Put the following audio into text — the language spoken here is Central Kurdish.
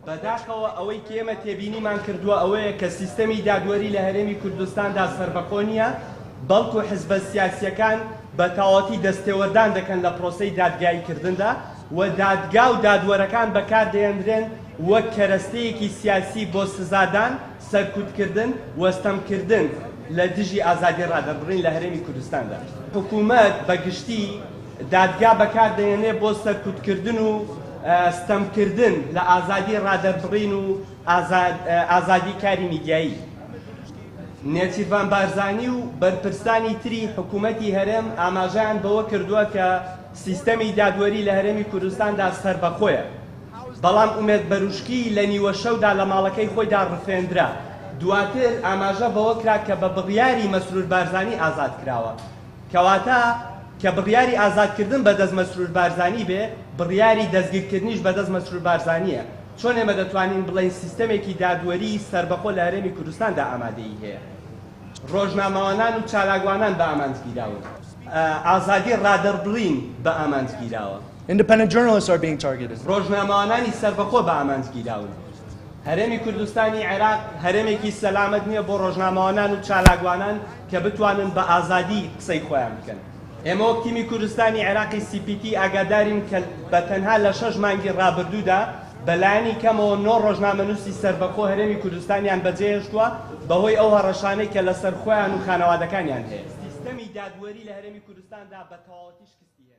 بەداخەوە ئەوەی کێمە تێبینیمان کردووە ئەوەیە کە سیستەمی دادوەری لە هەرێمی کوردستاندا سەربەخۆ نییە، بەڵکو حزبە سیاسییەکان بە تەواوەتی دەستێوەردان دەکەن لە پرۆسەی دادگاییکردندا و دادگا و دادوەرەکان بەکاردەهێنرێن وەک کەرەستەیەکی سیاسی بۆ سزادان، سەرکوتکردن و ستەمکردن لە دژی ئازادی ڕادەربڕین لە هەرێمی کوردستاندا. حکومەت بە گشتی، دادگا بەکار دەهێنێت بۆ سەرکوتکردن و ستەمکردن لە ئازادی ڕادەربڕین و ئازادی کاری میدیایی. نێچیرڤان بارزانی و بەرپرسانی تری حکوومەتی هەرێم ئاماژەیان بەوە کردووە کە سیستەمی دادوەری لە هەرێمی کوردستاندا سەربەخۆیە، بەڵام ئومێد بەروشکی لە نیوەشەودا لە ماڵەکەی خۆیدا ڕفێندرا، دواتر ئاماژە بەوە کرا کە بە بڕیاری مەسرور بارزانی ئازاد کراوە. کەواتە کە بڕیاری ئازادکردن بە دەست مەسرور بارزانی بێ، بڕیاری دەستگیرکردنیش بە دەست مەسرور بارزانییە، چۆن ئێمە دەتوانین بڵێین سیستەمێکی دادوەریی سەربەخۆ لە هەرێمی کوردستاندا ئامادەیی هەیە؟ رۆژنامەوانان و چالاکوانان بە ئامانج گیراون. ئازادیی رادەربڕین بە ئامانج گیراوە. Independent journalists are being targeted. رۆژنامەوانانی سەربەخۆ بە ئامانج گیراون. هەرێمی کوردستانی عێراق هەرێمێکی سەلامەت نییە بۆ رۆژنامەوانان و چالاکوانان. کە بتوانن بە ئازادی قسەی خۆیان بکەن. ئێمە وەک تیمی کوردستانی عێراقی سی پی تی ئاگادارین کە بە تەنها لە شەش مانگی رابردوودا بە لایەنی کەمەوە نۆ رۆژنامەنووسی سەربەخۆ هەرێمی کوردستانیان بەجێهێشتووە بەهۆی ئەو هەڕەشانەی کە لەسەر خۆیان و خانەوادەکانیان هەیە. سیستەمی دادوەری لە هەرێمی کوردستاندا بە تەواوەتی شکستی هێناوە.